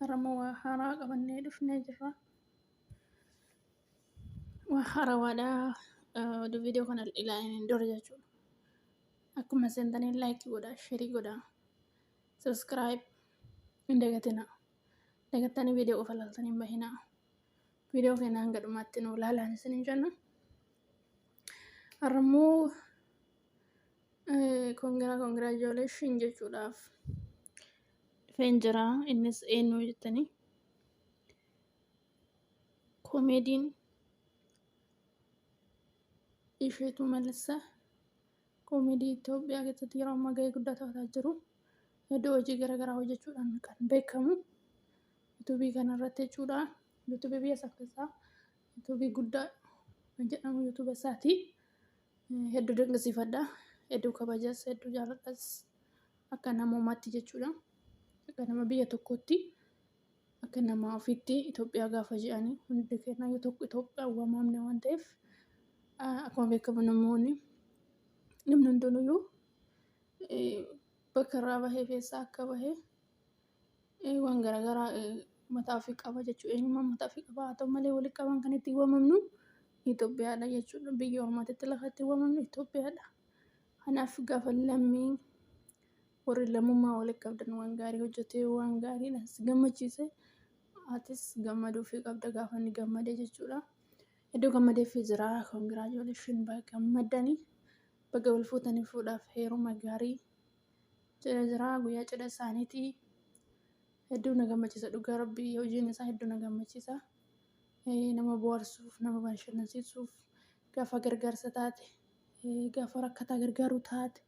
Harama waa haaraa qabannee dhufnee jirra. Waa haarawaadha. Oduu viidiyoo kana ilaalaniin dura jechuudha. Akkuma seentaniin laayikii godhaa, sheerii godhaa, sabiskiraayib hin dagatinaa. Dagattanii viidiyoo qofa ilaaltanii hin bahinaa. Viidiyoo keenya hanga dhumaatti nu ilaalaan isiniin jenna. Har'ammoo Congra congratulation jechuudhaaf dhufeen jira innis eenyu jettanii komeediin isheetu malassa komeedii Itoophiyaa keessatti yeroo ammaa gahee guddaa taphataa jiru iddoo hojii garaagaraa hojjechuudhaan kan beekamu yuutuubii kanarratti jechuudha yuutuubii biyya isaa keessaa yuutuubii guddaa kan jedhamu yuutuuba isaati. Hedduu dinqisiifadha. Hedduu kabajas, hedduu jaaladhas. Akka namoomaatti jechuudha. Akka nama biyya tokkootti, akka nama ofiitti Itoophiyaa gaafa jedhani hundi keenya yoo tokko Itoophiyaan waamamna waan ta'eef akkuma beekamu namoonni namni hundinuyyuu bakka irraa bahe keessaa akka bahe waan garaagaraa mataa ofii qaba jechuudha. Eenyummaa mataa ofii qaba. Haa ta'u malee walitti qabaan kan ittiin waamamnu Itoophiyaadha jechuudha. Biyya ormaatitti lafa ittiin waamamnu Itoophiyaadha. Kanaaf gaafa lammii warri lammummaa walitti qabdan waan gaarii hojjetee waan gaariidha si gammachiise atis gammaduu fi qabda gaafa inni gammade jechuudha. Iddoo gammadee fi jira koongiraajoleeshin baga gammaddanii baga wal fuutanii fuudhaaf heeruma gaarii Cidha jira guyyaa cidha isaaniiti. Hedduu na gammachiisa dhugaa rabbii hojiin isaa hedduu na gammachiisa. Eh, Nama bohaarsuuf nama bashannansiisuuf gaafa gargaarsa taate eh, gaafa rakkataa gargaaru taate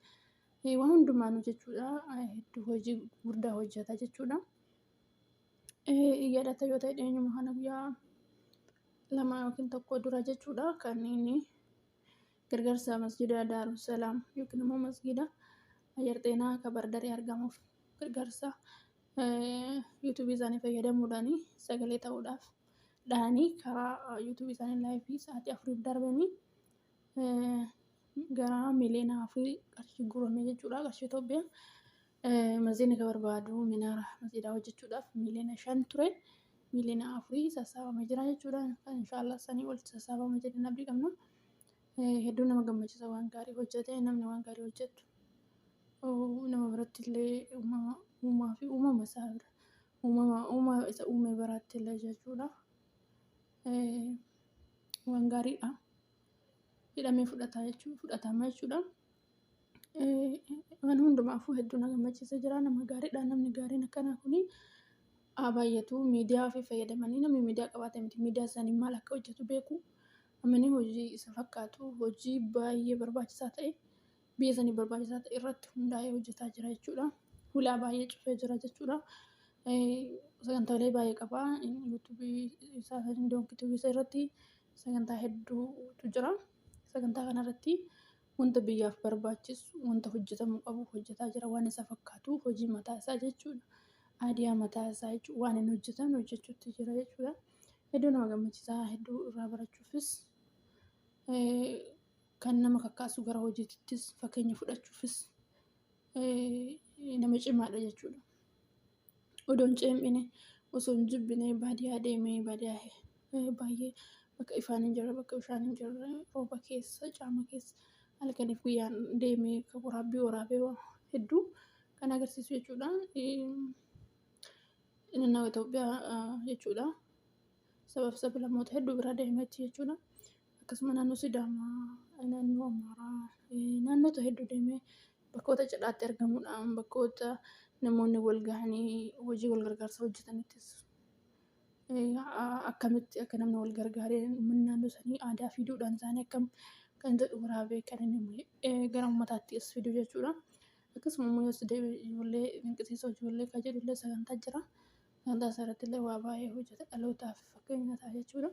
eh, waan hundumaanu jechuudha eh, hedduu hojii guddaa hojjeta jechuudha. Eh, Yaadata yoo ta'e dhiyeenyuma kana guyyaa lama yookiin tokko dura jechuudha kan inni Gargaarsa Masjiida Daaru Salaam yookiin immoo Masjiida Ayyar Xeenaa ka Baardarii argamuuf gargaarsa yuutuubii isaanii fayyadamuudhaan sagalee ta'uudhaaf dhahanii karaa yuutuubii isaanii laayifii sa'aatii afuriif darbanii gara miliyoona afurii qarshii guurame jechuudha qarshii Itoophiyaa. Masjiidni ka barbaadu minaara masjiidaa hojjechuudhaaf miliyoona shan ture miliyoona afurii sassaabame jira jechuudha. Inshaallah sanii ol sassaabama jedhanii abdii qabna. Hedduu nama gammachiisa waan gaarii hojjete namni waan gaarii hojjetu nama biratti illee uumaa fi uumama isaa bira uumama uuma isa uume biraatti illee jechuudha. Waan gaariidha. Hidhamee fudhata jechuudha fudhatama jechuudha. Waan hundumaafuu hedduu na gammachiisa jira. Nama gaariidha namni gaariin akkanaa kun haa baay'atu. Miidiyaa ofii fayyadamanii namni miidiyaa qabaatee miti miidiyaa isaanii maal akka hojjatu beeku. Namni hojii isa fakkaatu hojii baay'ee barbaachisaa ta'e biyya saniif barbaachisaa ta'e irratti hundaa'ee hojjataa jira jechuudha. Hulaa baay'ee cufee jira jechuudha. Sagantaalee baay'ee qaba. Sagantaa hedduutu jira. Sagantaa kanarratti Wanta biyyaaf barbaachisu, wanta hojjetamuu qabu hojjetaa jira. Waan isa fakkaatu hojii mataa isaa jechuudha. Aadiyaa mataa isaa jechuudha. Waan hin hojjetamne hojjechuutti jira jechuudha. Hedduu nama gammachiisa. Hedduu irraa barachuufis kan nama kakkaasu gara hojiittis fakkeenya fudhachuufis nama cimaadha jechuudha. odoo hin ceephine, osoo hin jibbine baadiyaa deemee baadiyaa baay'ee bakka ifaan hin jirre, bakka bishaan hin jirre, rooba keessa, caama keessa halkaniif guyyaan deemee kan waraabbii waraabee hedduu kan agarsiisu jechuudha. Naannawa Itoophiyaa jechuudha. Sabaa fi sablammoota hedduu bira deemee achi jechuudha. Akkasuma naannoo Sidaamaa, naannoo Amaaraa, naannota hedduu deemee Bakkoota cidhaatti argamuudhaan bakkoota namoonni wal gahanii hojii wal gargaarsaa hojjetanittis akkamitti akka namni wal gargaaree uummanni naannoo sanii aadaa fi duudhaan isaanii akkam kan jedhu waraabee kan inni gara uummataatti as fidu jechuudha. Akkasuma immoo as deebi'ee ijoollee dinqisiisoo ijoollee kan jedhu illee sagantaa jira. Sagantaa isaarratti illee waa baay'ee hojjeta dhalootaaf fakkeenya ta'a jechuudha.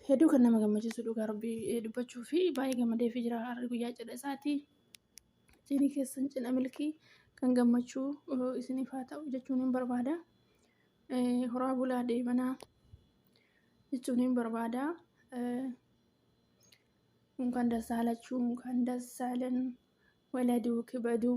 Hedduu kan nama gammachiisu dhugaa rabbii dubbachuu fi baay'ee gammadee fi jira har'a guyyaa cidha isaati. Cidhi keessan cidha milkii kan gammachuu isiniif haa ta'u jechuun hin barbaada. Horaa bulaa deemanaa jechuun hin barbaada. Kan dasaalachuu kan dasaalan waladuu kibaduu.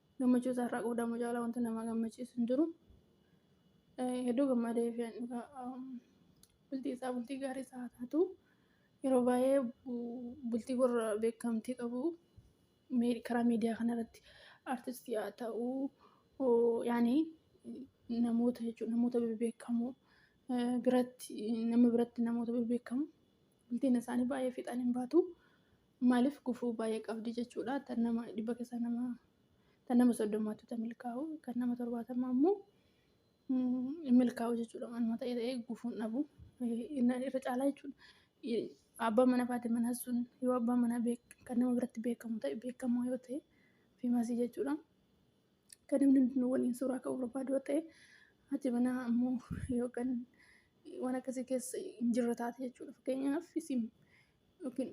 Gammachuu isaa irraa qoodamu caalaa wanta nama gammachiisu hin jiru. Hedduu gammadee fi bultii isaa bultii gaarii isaa haa taatu. Yeroo baay'ee bultii warra beekamtii qabu karaa miidiyaa kanarratti artistii haa ta'u yaani namoota jechuudha namoota bebbeekamoo biratti nama biratti namoota bebbeekamoo bultiin isaanii baay'ee fiixaan hin baatu. Maaliif gufuu baay'ee qabdi jechuudha. Tan nama dhibba keessaa nama tan nama soddomaatu tan milkaa'u kan nama torbaatamaa immoo hin milkaa'u jechuudha. Manuma ta'e ta'ee gufuun dhabu irra caalaa jechuudha. Abbaan mana faati manaa sun yoo abbaan manaa kan nama biratti beekamu ta'e beekamaa yoo ta'e fiimasii jechuudha. Kan namni hundinuu waliin suuraa ka'uu barbaadu yoo ta'e haati manaa ammoo yookaan waan akkasii keessa hin jirre taate jechuudha. Fakkeenyaaf isin yookiin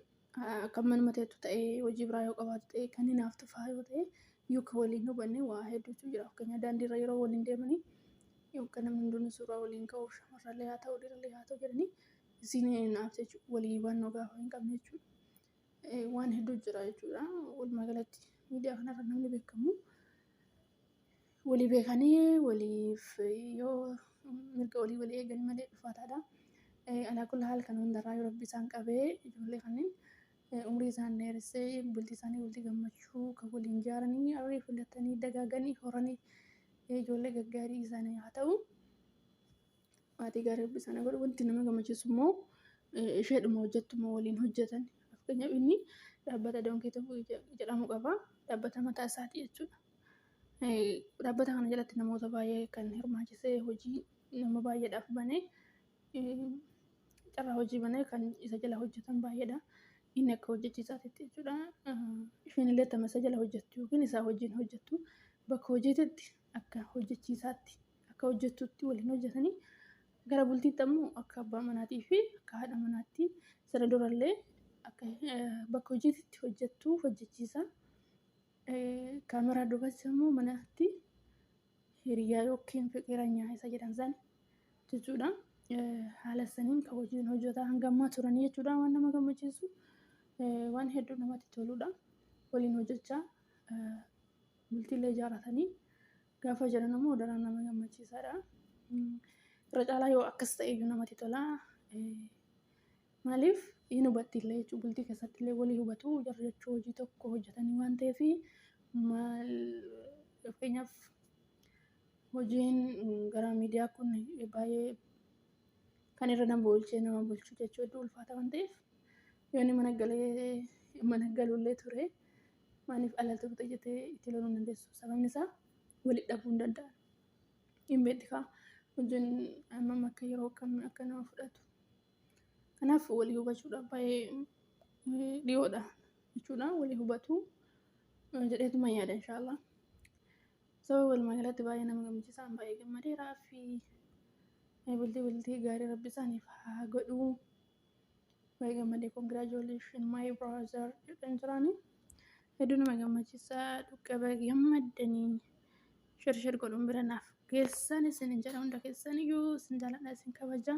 kan manuma teettu ta'ee hojii biraa yoo qabaatu ta'ee kan hinaaftu fa'aa yoo ta'e yoo kan waliin hubanne waa hedduutu jira fakkeenyaaf daandiirra yeroo waliin deemanii yoo kan namni hundinuu suuraa waliin ka'uuf shamarrallee haa ta'u dhiirallee haa ta'u jedhanii isiin hinaafte jechuudha walii hubannoo gaafa hin qabne jechuudha. Waan hedduu jira jechuudha walumaa galatti miidiyaa kanarra namni beekamu. walii beekanii waliif yoo mirga walii walii eegan malee dhufaataadha. Alaa kulli haal kan hundarraa yoo rabbi isaan qabee ijoollee kanneen umrii isaan dheeressee bultii isaanii bultii gammachuu kan waliin ijaaranii arrii filatanii dagaaganii horanii ijoollee gaggaarii isaanii haa ta'u. Maatii gaarii rabbi sana godhu wanti nama gammachiisu immoo isheedhuma hojjettuma waliin hojjetan. Fakkeenyaaf inni dhaabbata doonkii tokko jedhamu qaba. Dhaabbata mataa isaati jechuudha. Dhaabbata kana jalatti namoota baay'ee kan hirmaachisee hojii nama baay'eedhaaf banee carraa hojii banee kan isa jala hojjetan baay'eedha. Inni akka hojjechiisaatitti jechuudha. Isheen illee tama isa jala hojjettu yookiin isaa wajjin hojjettu bakka hojiititti akka hojjechiisaatti akka hojjettuutti waliin hojjetanii gara bultiitti ammoo akka abbaa manaatii fi akka haadha manaatti sana durallee akka bakka hojiitti hojjettuu hojjechiisa. Kaameraa duubas immoo manatti hiriyaa yookiin fiqiranyaa isa jedhan san jechuudha. Haala saniin kan hojiin hojjetaa hanga ammaa turanii jechuudha waan nama gammachiisu waan hedduu namatti toludha. Waliin hojjechaa bultiillee ijaarratanii Gaafa jedhan ammoo daran nama gammachiisaadha. Irra caalaa yoo akkas ta'e iyyuu namatti tola. Maaliif hin hubatti illee jechuun bultii keessatti illee walii hubatu jarri jechuu hojii tokko hojjetanii waan ta'eef maal fakkeenyaaf hojiin gara miidiyaa kun baay'ee kan irra nama oolchee nama bulchu jechuu hedduu ulfaata waan ta'eef yoonni mana galee mana galullee ture Maaliif alaltuu fixe jettee itti loluu hin dandeessu. Sababni isaa walitti dhabuu hin danda'an. Hin beekti kaa hojiin hammam akka yeroo akkamii akka nama fudhatu. Kanaaf walii hubachuudhaaf baay'ee eh, dhiyoodha jechuudha. Walii hubatuu eh, jedheetuma yaada inshaallah. Sababa walumaa galatti baay'ee nama gammachiisaan baay'ee gammadeeraa fi eh, bultii bultii gaarii rabbi isaaniif haa godhuu. Baay'ee gammadee congratulations my brother jedhan jiraanii. Hedduu nama gammachiisa dhukkaba gammaddanii shirshir godhuun bira naaf geessan isin hin jedha hunda keessan iyyuu isin jaaladha isin kabaja.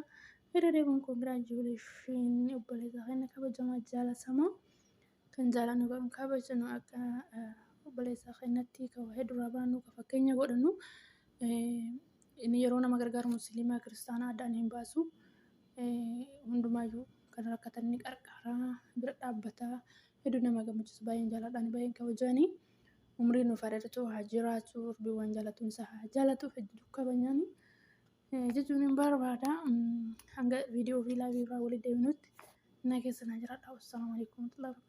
Irra deebiin congratulations obboleessa keenya kabajamaa jaalatamaa. kan jaalannu kan kabajnu akka obboleessa keenyatti kan wahee duraa baanu kan fakkeenya godhannu inni yeroo nama gargaaru musliimaa kiristaanaa addaan hin baasu hundumaayyuu kan rakkatan ni qarqara bira dhaabbata hedduu nama gammachiisu baay'een jaaladhaan baay'een kabajani umrii nuuf dheeratu haa jiraatu rabbi waan jaalatuun isaa haa jaalatu hedduu kabajani jechuun hin barbaada hanga viidiyoo fi laayivii irraa walitti deebinutti na keessa na jiraadha wassalamu alaikum warahmatullahi wabarakatuh